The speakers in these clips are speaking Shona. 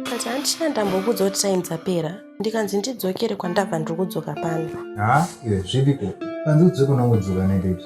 Kati handichina ndambokuudza kuti time dzapera ndikanzi ndidzokere kwandabva ndiri kudzoka pano. Ha, iwe zviriko. Panzi udzoke unongodzoka nendeti.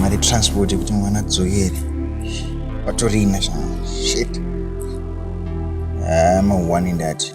mari transport yekuti mwana adzokere patorina shit ah, maone ndati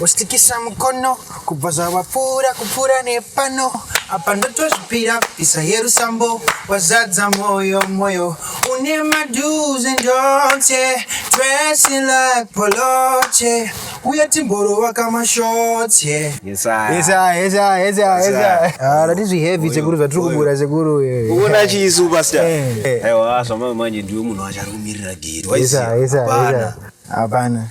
Wostikisa mukono kubva zvawapfuura kupfuura nepano apa ndotozvipira pisa yerusambo wazadza moyo moyo une mado's and don'ts yeah. dressing like poloche uye timborova kamashorts yeah. Yes, I. Yes, I, yes, I, yes, I, yes, I. Ah, that is heavy sekuru zvatiri kubura sekuru eh. Uona chisu pastor. Eh, eh. Aiwa zvamamanje ndiwe munhu acharumirira gate. Yes, I, yes, I, yes, I. Hapana.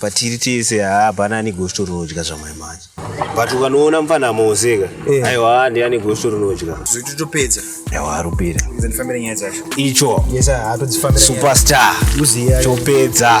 patiri tese haa hapana ane gosito rinodya zvamai manje but ukanoona mfana amoseka eh. aiwa haa ndi ane gosito rinodya zvitotopedza aiwa arupira ndifambira nyaya dzacho icho superstar topedza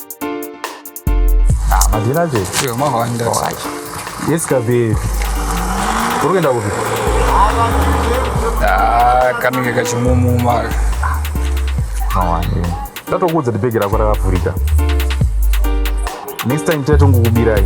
Ah, madhina che. Yo, mahwanda. Yes, kabe. Uri kuenda kupi? Ah, kanenge kachimumuma. Mawande. Ndatokuudza kuti bhegi rako rakavhurika. Next time tatongokubirai.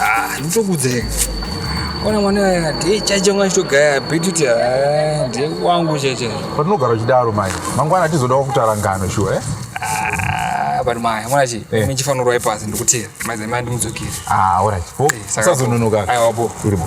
Ah, nditokudzeka. Ona mwana aya ndiye chacho mwana chitogaya bhituti ah, ndiye wangu chacho. Patinogara uchidaro mai. Mangwana tizoda kutara ngano shuwa eh? Ah, but mai, mwana chi, eh. mimi chifanira rwai pasi ndikutira. Mai zai mai ndimudzokere. Ah, all right. Bo, eh, sazononoka. Ayo wapo. Uri bo.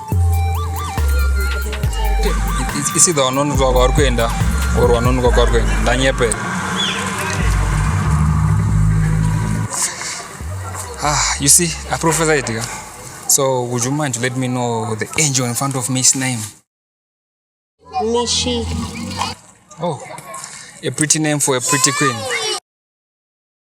isi the vanonoka kwavari kuenda or vanonoka kwavari kuenda ndanyepe ah you see a professor itika so would you mind to let me know the angel in front of me his name mishi oh a pretty name for a pretty queen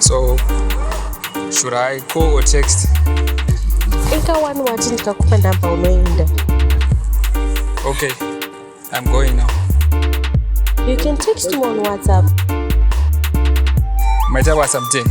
so should i call or text ika wani wati ndikakupa number unoenda okay i'm going now you can text me on whatsapp maita whatsapp date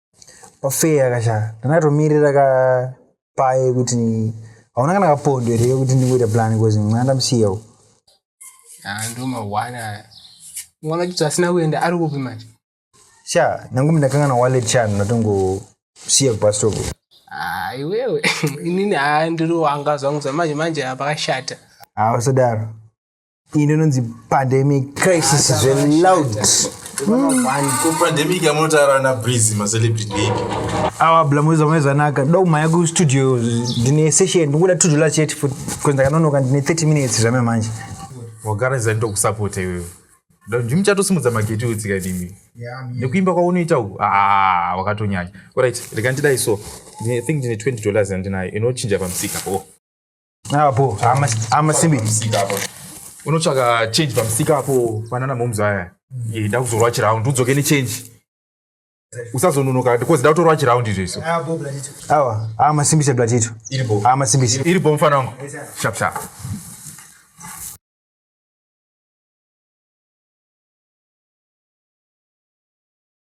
pafeya kashaka ndakatomirira ka paye kuti hauna kana kapondo here kuti ndingoita plan bcause mwana ndamusiyawo ah, ndo mahwana aya mwana chito asina kuenda ari kupi manje sha nangumi ndakangana wallet sha ndinatongosiya kubastop ah, iwewe inini haa ah, ndiri wanga zvangu zvamanje manje apa kashata hausadaro ah, iyi ndinonzi pandemic crisis zveloud pandemic yamunotaura ana breeze macelebrity ipi awa blamuza maizanaka ndoda kumhanya kustudio ndine session ndikuda two dollars chete futi bcause ndakanonoka ndine 30 minutes zvame manje wagara izani tokusapota iwewe ndimi muchatosimudza mageti utsika ndimi nekuimba kwaunoita uku ah, wakatonyanya orit rega ndidai so i think ndine 20 dollars yandinayo inochinja pamusika oh. apo amasimbi unotsvaka change pamusika apo panana moms aya ida kuzorwa chiround udzoke nechange usazononoka because ndakutorwa chiround izvo iso awa amasimbise blatito amasimbise iri bo mufana wangu shapshap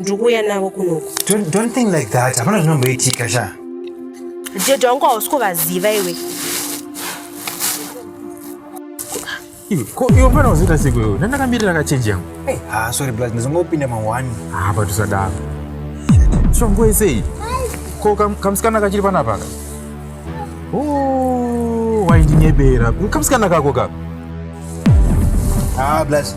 ndikuuya navo kunoku don't, don't think like that hapana zvinomboitika sha jeje wangu hausi kuvaziva iwe iwe pana uziita siku iwe ndandakamiri rakachenji yangu ha sorry blas ndizongopinda mawani ha patusadaro shongo isei ko kamusikana kachiri panapaka waindinyebera kamusikana kako kako ha blas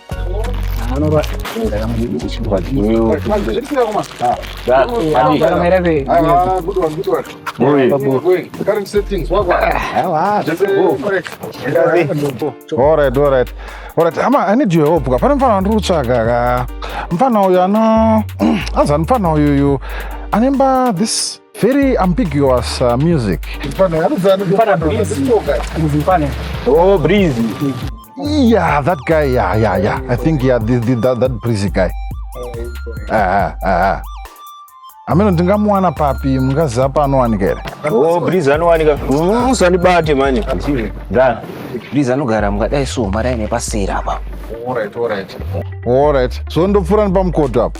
hama i need your help ka pane mfana wandiri kutsvaga ka mfana uyu ano azi ani mfana uyuyu anemba this Very ambiguous uh, music. Oh, breezy. Yeah, that guy. Yeah, yeah, yeah. I think yeah, the, the, that, that breezy guy. Ah, ah, ah. ameno ndingamuwana papi mungaziva paanowanika here oh, briz anowanika musandibate mm, mani briz anogara mungadai so maraine paseri apa orit so ndopfuura nepamukoto apo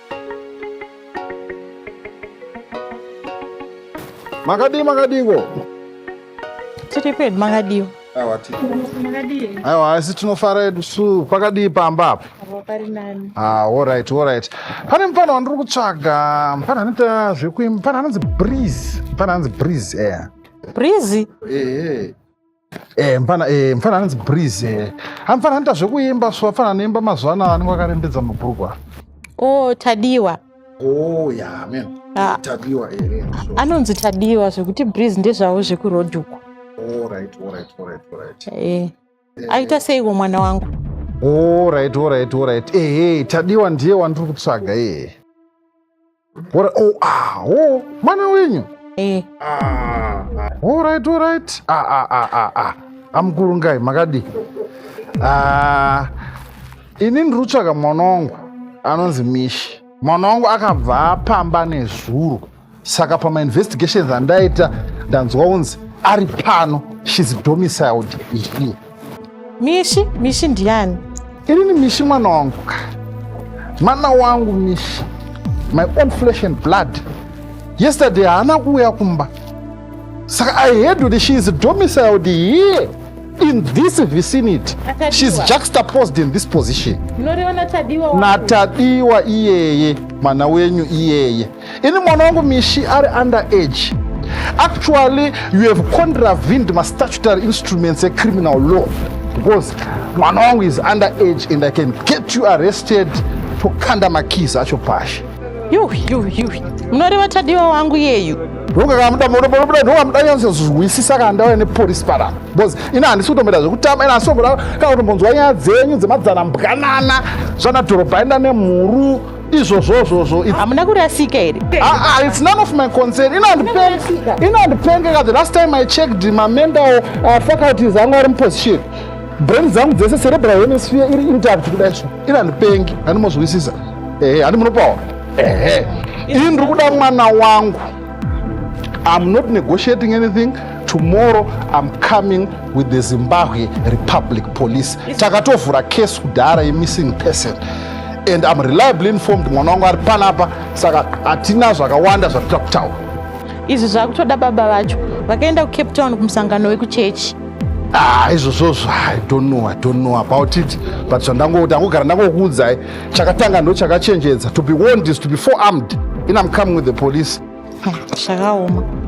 Makadii makadingo? Tiri pedu makadii? Awa tiri. Makadii? Awa asi tinofara edu su pakadii pamba apa? Pari nani. Ah, all right, all right. Pane mfana wandiri kutsvaga. Mfana anoita zvekuimba. Mfana anonzi Breeze. Mfana anonzi Breeze, eh. Breeze? Eh. Eh, mfana eh, mfana anonzi breeze eh. amfana anoita zvekuimba so afana anoimba mazuva anaya anenge akarembedza mabhurugwa oh tadiwa oh yeah man ah. tadiwa ere eh, so. anonzi tadiwa zvekuti breeze ndezvavo zvekuroad uko all right all right all right all right eh. eh. aita seiko mwana wangu all right all right all right eh, eh tadiwa ndiye wandiri kutsvaga eh. What a, oh, ah, oh, mwana wenyu. Eh. Ah, all right, all right. Ah, ah, ah, ah, ah. Amukuru ngai makadi. Ah, ini ndiri kutsvaga mwana wangu anonzi Mishi. Mwana wangu akabva apamba nezuro. Saka pama investigations andaita ndanzwa unzi ari pano. She's domiciled here. Mishi, Mishi ndiani? Ini ni Mishi mwana wangu ka. Mwana wangu Mishi. My own flesh and blood. Yesterday haana kuuya kumba. Saka I heard that she is domiciled here in this vicinity. Natadiwa. She is juxtaposed in this position. Munorewa naTadiwa wangu. Natadiwa iyeye, mwana wenyu iyeye. ini mwana wangu mishi ari under age actually you have contravened mastatutory instruments ecriminal law because mwana wangu is under age and i can get you arrested tokanda makis acho pashi munoreva tadiwa wangu yeyu ndokakamudamudamudanyanzozwisisa kana ndauya nepolisi parapa bcause ina handisi kutomboita zvekutama ina handisi kutomboda kana kutombonzwa nyaya dzenyu dzemadzana mbwanana zvanadhorobha enda nemhuru izvozvozvozvo hamuna kurasika here ah, ah, its none of my concern inondipengeka the last time i checked mamember uh, faculties angu ari muposition brain dzangu dzese cerebral hemisphere iri intact kudai so inondipengi handimozwisisa ehe handi munopaona ehe ini ndiri kuda mwana wangu i'm not negotiating anything tomorrow i'm coming with the zimbabwe republic police takatovhura case kudhara yemissing person and I'm reliably informed mwana wangu ari panapa saka hatina zvakawanda zvatita kutaura izvi zvakutoda baba vacho vakaenda kucape town kumusangano wekuchechi ah, izvozvozvo i don't know i don't know about it but zvandangoti angogara ndangokuudzai chakatanga ndo chakachenjedza to be warned is to be forearmed in am coming with the police zvakaoma hmm,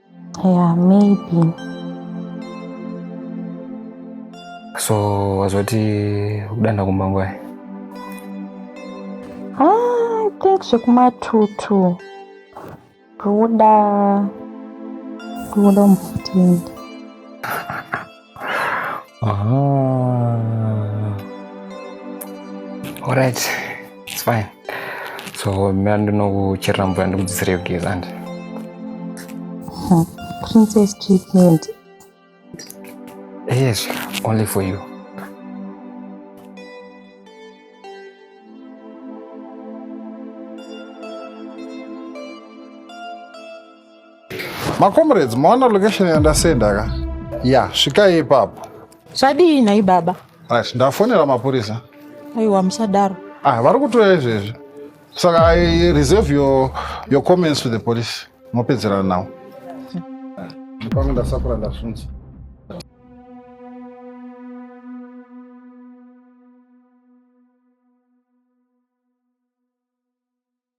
Yeah, maybe. So wazoti kudanda kumba ngwai? Ah, I think zvekumatutu kuda kuda mutende Alright, it's fine. So mira ndinokucherera mvura ndikudzidzire kugeza andi. Hmm. Princess treatment. Yes, only for you. Macomrades, maona location yandasenda ka? Ya, svikai ipapo. Zvadii nhai baba? Right, ndafonera mapurisa. Aiwa musadaro. Ah, vari kutoya izvezvi. Saka I reserve your, your comments to the police. Mopedzerana nawo. Ndipange ndasakura ndasunza.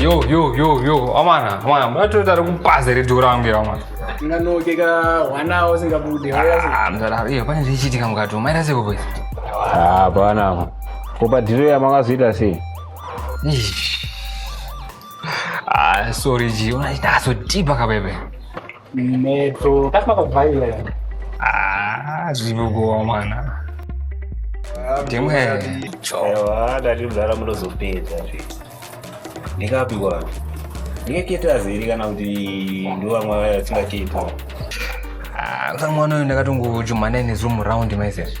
yo yo yo yo amana amana matoita ari kupaza redio rangu iro amana unganoke ka hwana usingabude Ah, mzala wangu, iyo pane zvichiitika mukati umu maita seko boys hapana apa ko padhiro yamakazoita sei Eish. Ah, sorry ji unazodhipa kabebe Metro. That's not a violent. Ah, zvinogova mwana. Demwe. Chowa, dadi mzara munozopedza zve. Ndikapi kwa? Ndikaketa zeri kana kuti ndovamwe vaya vasingaketa. Ah, kamwana uyu ndakatongochumana ine zoom round myself.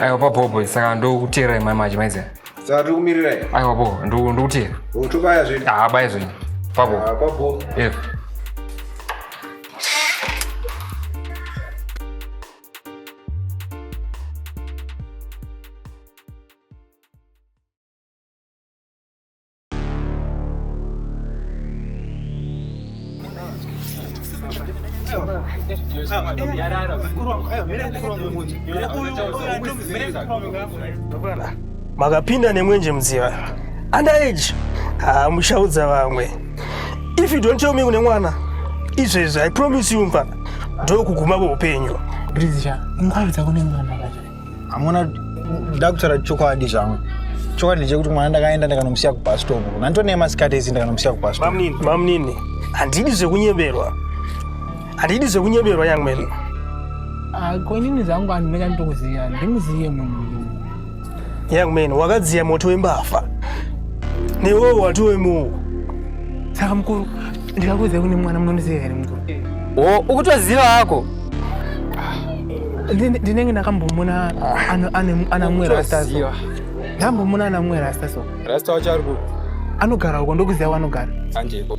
aiwa papopo saka ndokuteera imai maji maiziva saka tiri kumirira i aiwa po ndu- ndikuteera utobaya zvedu haabaya zvenyu papo apapo Yes. makapinda nemwenje mudziva under age ah, mushaudza vamwe if you don't tell me kune mwana izvezvi i promise you mfana ndokuguma kweupenyu Bridge, mukabudza kune mwana. hamuna nda kutaura chokwadi zvangu chokwadi ndechekuti mwana ndakaenda ndikanomusiya kubastop nanditoneya masikati ese ndikanomusiya kubastop mamnini handidi zvekunyeberwa handidi zvekunyeberwa young man ah, konini zvangu anhu meka nditokuziya ndimuziye munhu young man wakadziya moto wembavha newewo watowemuwo saka mukuru ndikakuudza kune mwana munondiziva here mukuru o ukutoziva hako ndinenge ndakambomona ana mwe rasta so ndambomona ana mwe rasta so rasta wacho ari kupi anogara uko ndokuziva wanogara anjeko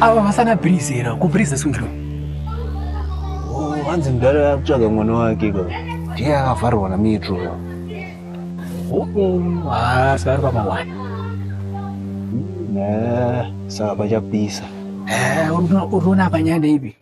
Ava vasana bhirizera, kubhiriza sungiro. Oh, hanzi mudhara akutsvaga mwana wake ka. Ndiye akavharwa na metro. Oh, oh, ah, sari kwa mawani. Nah, saka pachapisa. Eh, uruona panyanda ipi.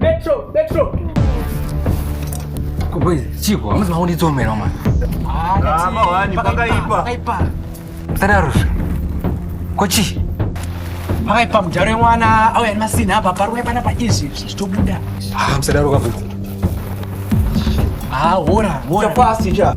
Metro, Metro. Kuboizi, chiko, hamuzi makundidzomera mwana. Ah, mawani, pakaipa. Pakaipa. Sadaruzve. Kochi. Makaipa mujaro yemwana auya nemasina apa paruwa pana paizvi zvitobuda. Ah, musadaruka bhuku. Ah, hora, hora. Chapasi cha.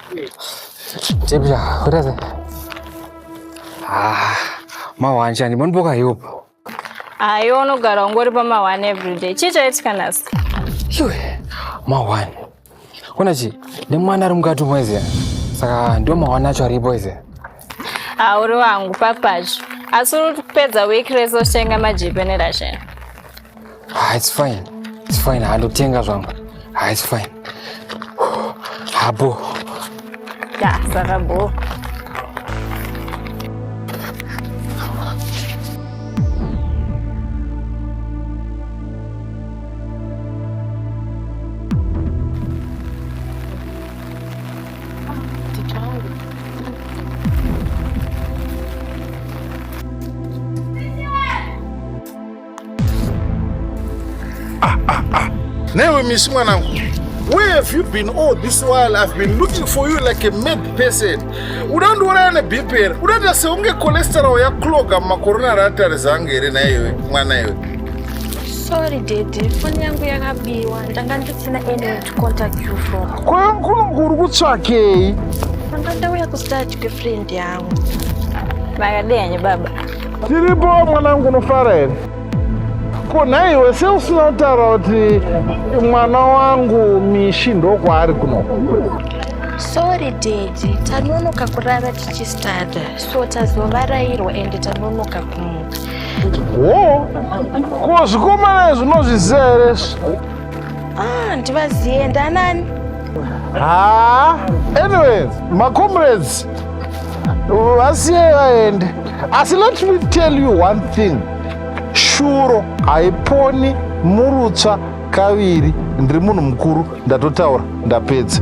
Chepcha, what is it? Ah, mawani chani, mboni boka yupo. Ah, iwe unogara ungori pa mawani everyday. Chii chaitika nhasi? Iwe, mawani. Kuna chi, nemwana ari mukati mwezi. Saka ndio mawani acho aripo izi. hauri wangu papacho asi uri kupedza wiki rese uchienga majipe nerashen ah, its fine its fine handotenga zvangu ah, its fine habo ya saka boo Ah, ah, ah. Newe misi mwanangu Where have you been all this while? I've been looking for you like a mad person. Udandiuraya neBP here? Udaita seunge cholesterol yakloga mumakorona reatari zangu here naiwe mwana iwe? Sorry daddy, phone yangu yakabiwa. Ndanga ndisina energy. contact you from kwankulungu uri kutsvakei anga ndauya kustart kwefriend yangu makadenye baba tiripo mwanangu unofara here ko nhai iwe se usina kutaura kuti mwana wangu mishi ndokwaari kuno sorry dedi tanonoka kurara tichistada so tazovarairwa ende tanonoka kumuka wo ko zvikomana izvi unozviziva here Ah, ndivaziye ndanani? Ah, anyways, my comrades, vasiye vaende. Asi let me tell you one thing. Shuro haiponi murutsva kaviri ndiri munhu mukuru ndatotaura ndapedza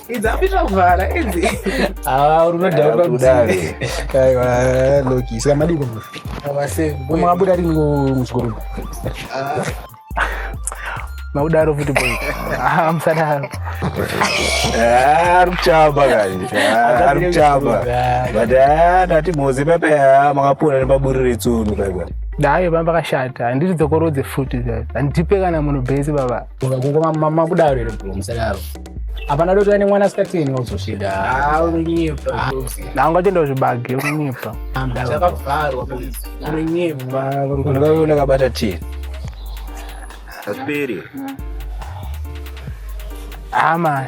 idzapita kuvhara idzi ah, unodhauka kudai aiwa loki saka madiko mwabuda rini muchikoro ah. maudaro futi boy ah, musadaro eh, ari kuchamba kani eh, ari kuchamba but eh, ndati moze pepe makapona nepaburi retsunu kaiwa dayo bamba kashata handiti dzokorodze futi handipe kana munhu bhesi baba kungoma makudaro here bro musadaro hapana doti ane mwana asikateni wazosvika ah, unonyepa ah. nanga chenda zvibage unonyepa zvakavharwa unonyepa unonga kabata teni aperi ama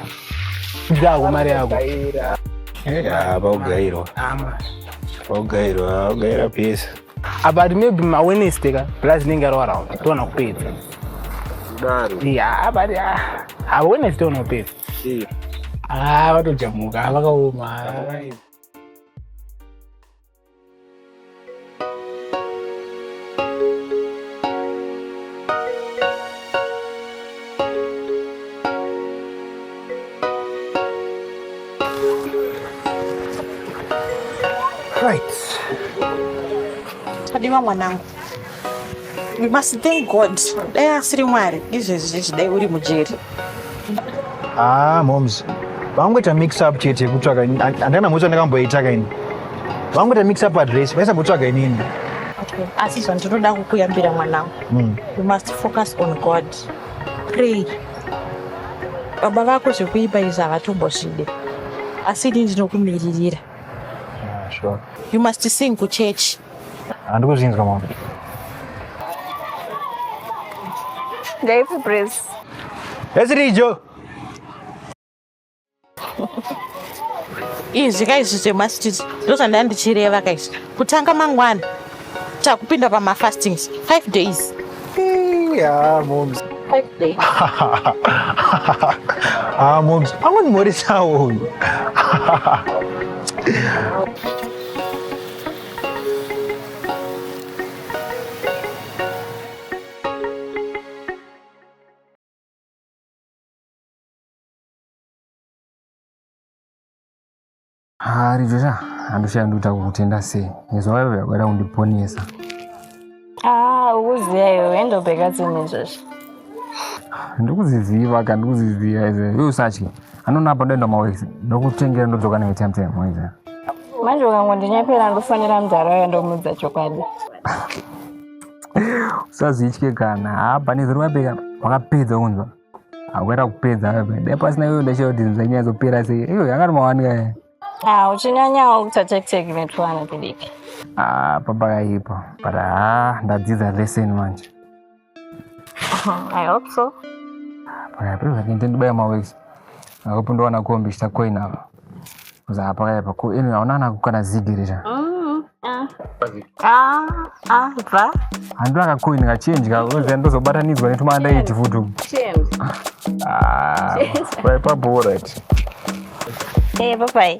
dzako mari yako apa ugairwa ugairwa ugaira pesa About maybe ma Wednesday ka plus ninge ro around. Tona kupedza. Daro. Yeah, but ah, ha Wednesday tona kupedza. Yeah. Ah, vatojamuka vakaoma. Right. Right. Tadiwa mwanangu. We must thank God. Dai asiri Mwari, izvezvi zvichidai uri mujeri. Ah, moms. Vangoita mix up chete kutsvaka ini. Andana mutsa ndakamboita kaini. Vangoita mix up address, vaisa kutsvaga inini. Okay. Asi zvandinoda kukuyambira mwanangu. Mm. You must focus on God. Pray. Baba vako zvekuipa izvi havatombozvide. Asi ini ndinokumiririra. Ah, sure. You must sing kuchurch. Handiko ah, zvinzwa mama. Ndaifu praise. Ezirijo. izvi ka izvi zvemastiti ndozvandaya ndichireva ka izvi kutanga mangwana takupinda pamafastings five days yeah, moms. Five days. ah, moms, I want more sound. Hari zvesha handichaya ndoita kukutenda sei nezwa wewe yakuda kundiponesa ah ukuziya iwe endobheka tsini zvesha ndikuziziva ka ndikuziziva izve iwe usatye anona apa ndoenda mawese ndokutengera ndodzoka newe time time waiza manje ukangondinyepera ndofonera mudhara waya ndomudza chokwadi usazvitye kana hapa nezero wapeka wakapedza kunzwa Awera kupedza apa. Dai pasina iwe ndashaya kuti zvichanyazopera sei. Iyo yanga mawanika. Ah, uchinyanyawo kuita tactic netwana kudiki. Ah, papa kaipa. But ah, ndadzidza lesson manje. I hope so. Paya paya ndibaya mawex. Akupinda wana kombi chitakoina apa. Zapakaipa ko imi hauna kana kukana zigirira. Mm. Ah. Ah, ah, bva. Handu akakoini ngachenja oziva ndozobatanidzwa netumanda iti futi. Ah, paipa bora iti. Hey, eh, bye bye.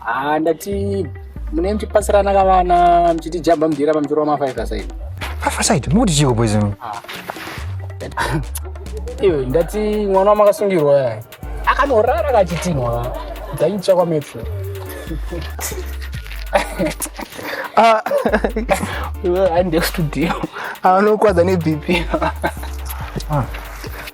haa ndati mune mchipasirana kavana mchitijamba mdira pamchoro wamafive side five side mukuti chiko boys imi ah. iyo ndati mwana wamakasungirwa yaya akanorara kachitinwa dzaitsva kwametro ah. andekustudio anokwadza nebp ah.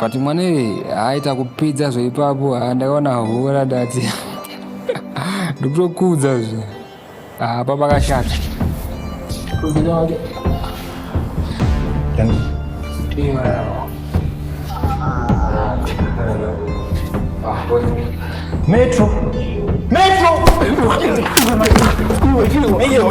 but mwana iye aita kupidza zveipapo ah, ndakaona hora ndati ndikutokudza zve ah, apa pakashata metro metro Hey, yo,